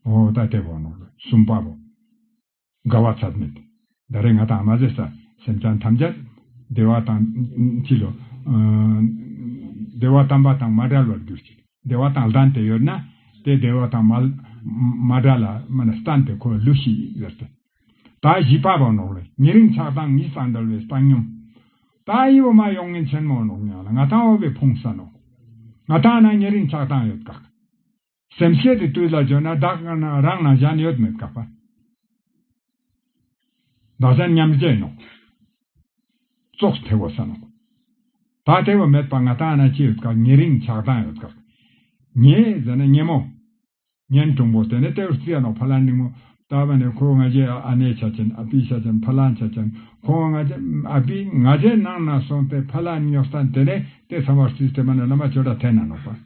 འོ་ད་ལྟའི་བར་ནང་ལོ་གསུམ་པ་རུ། དགའ་བ་ཚད་མེད་དེ། ད་རེས་ང་དང་མ་ཟེ་ས་སེམས་ཅན་ཐམས་ཅད། བདེ་བ་དང། ཅི་ལོ། བདེ་བ་དམ་པ་དང་མ་བྲལ་བར་གྱུར་ཅིག། བདེ་བ་དང་ལྡན་དེ་ཡོད་ན། དེ་བདེ་བ་དང་མ། བྲལ་ལ། སྨིན་ན་སྟན་དེ་ཁོ་ལུས་ཤིག་ཟེར་ཏེ། ད་བཞི་པ་བར་ནང་ལོ་ཉི་རིང་ཆགས་སྡང་གཉིས་སམ་འདྲ་བའི་བཏང་སྙོམས། ད་ཨེ་བུ་མ་ཡོང་ངས་མཆན་མོ་ནོག་མྱངས་ལ་ང་དང་འོ་བའི་ཕུང་ས་ནོག། ང་དང་ན་ཉི་རིང་ཆགས་སྡང་ཡོད་དགག། སེམས་བསྐྱེད་དེ་དུས་ལ་བྱོན་ན་བདག་དཀར་ནག་རང་སྣང་གཞན་ཡོད་མེད་བཀག་པ། བདག་གཞན་མཉམ་བརྗེས་ནོ། རྩོགས་ཐེ་བོ་ས་ནོ། བག་ཐེ་བོ་མེད་པར་ང་དང་ན་ཅི་ཡོད་བཀག་ཉེ་རིང་ཆགས་སྡང་ཡོད་བཀག། ཉེ་ཟེར་ན་ཉེ་མོ། ཉན་གྲུང་པོ་དེ་ནི་ལྟེ་བར་རྩི་ཡ་ནོ་ཕ་ལ་ནིང་མོ། ད་བ་ནི་ཁོའི་ང་རྒྱལ་ཨ་ནེའི་ཆ་ཅན་ཨ་ཕིའི་ཆ་ཅན་ཕ་ལའང་ཆ་ཅན་ཁོའི་ང་རྒྱལ་ཨ་ཕིའི་ང་རྒྱལ་སྣང་ན་སོང་སྟེ་ཕ་ལ་ཉོག་ཐང་དེ་ནི་ལྟེ་ཚང་བར་རྩིས་དེ་བ་ནི་བླ་མ་ཆོས་སྒྲ་ཐན་ན་ནོ་བ།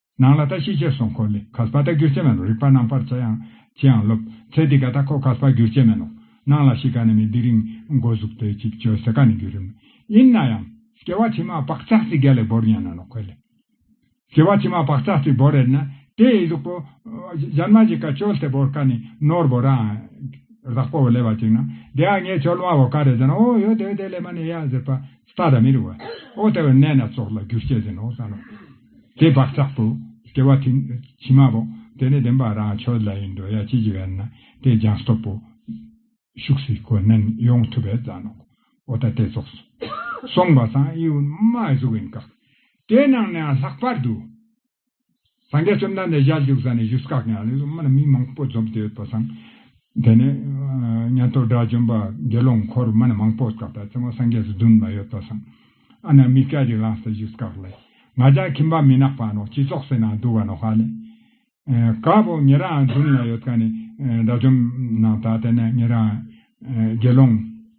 ནང་ལ་ད་ཤི་ཆད་སོང་ཁོ་ལི་ག་སྤ་ད་གུར་ཆད་མན་ནོ་རིག་པ་ནང་པར་ཆ་ཡང་ཅིའང་ལོབ་ཚད་དི་ག་ད་ཁོ་ག་སྤ་གུར་ཆད་མན་ནོ་ནང་ལ་ཤི་ག་ནི་མི་དི་རིང་མགོ་གཟུག་དེ་ཅིག་བཅོས་ཟེ་ག་ནི་གུ་རིམ་ཡིན་ན་ཡང་སྐྱེ་བ་ཕྱི་མ་བག་ཆགས་ཚིག་ག་ལས་བོར་ཡན་ན་ནོ་ཁོ་ལི་སྐྱེ་བ་ཕྱི་མ་བག་ཆགས་ཚིག་བོར་ཡན་ན་དེ་ཡི་གཟུག་པོ་གཞན་མ་ཅིག་ག་བཅོལ་ཚད་བོར་ག་ནི་ནོར་བོ་ར་རག་པོ་བོ་ལས་བ་ཅིག་ན་དེ་ཡང་ངས་བཅོལ་མ་བོ་ག་རེ་ཅན་ཨོ་ཡོ་དེ་བས་དེ་ལས་མ་ནི་ཡ་ཟེར་པ་རྟགས་དང་མི་རུང་བ། ཨོ་ལྟ་བའི་གནས་སྣ་ཚོགས་ལ་རྒྱུར་སྐྱེས་ཟིན་ནོ་བསམས་ལ། དེ་བག་ཆགས་དུ་སྐྱེ་བ་དེ་ཕྱི་མ་བོ། དེ་ནས་བདེན་པ་རང་ཆོས་ལ་ཡི་འདོད་ཡ་ཅི་བགྱི་བས་ན་དེ་སྦྱང་སྟོབས་པོ། ཤུགས་སུ་གོ་ནན་ཡོངས་ཐུབ་པས་བཟང་ནོ། ཨོ་ལྟ་སྟེ་རྫོགས་སོ། གསུངས་པ་དང་དབྱེ་བ་མ་གཟུགས་ཡིན་བཀག། དེ་རྣམས་ནའང་ལྷག་པར་དུ། སངས་རྒྱས་བཅོམ་ལྡན་འདས་ཞལ་བཞུགས་ས་ནས་བཞུགས་སྒར་གྱི་ཨར་ལས་སུ་མི་མང་པོ་འཛོམས་ཏེ་ཡོད་པར་བསམ། དེ་ནས། ཉན་ཐོས་དགྲ་བཅོམ་པ་དགེ་སློང་འཁོར་མི་མང་པོ་བཀག་པའི་རྩེ་མོ་སངས་རྒྱས་སུ་བསྡུ་ནས་ཡོད་པར་བསམ། ཨ་ན་མི་སྐད་ཅིག་ལངས་ཏེ་བཞུགས་སྒར་ལས། ང་ཅག་ཁྱིམ་པ་མི་ནག་པ་ནོ་སྤྱི་ཚོགས་སེར་ནང་འདུ་བ་ནོ་ཧ་ལས། དཀར་པོ་ངེད་རང་བསྡུ་ནས་ཡོད་ཀ་ནས། དགྲ་བཅོམ་ནང་དག་དེ་ནས་ངེད་རང། དགེ་སློང།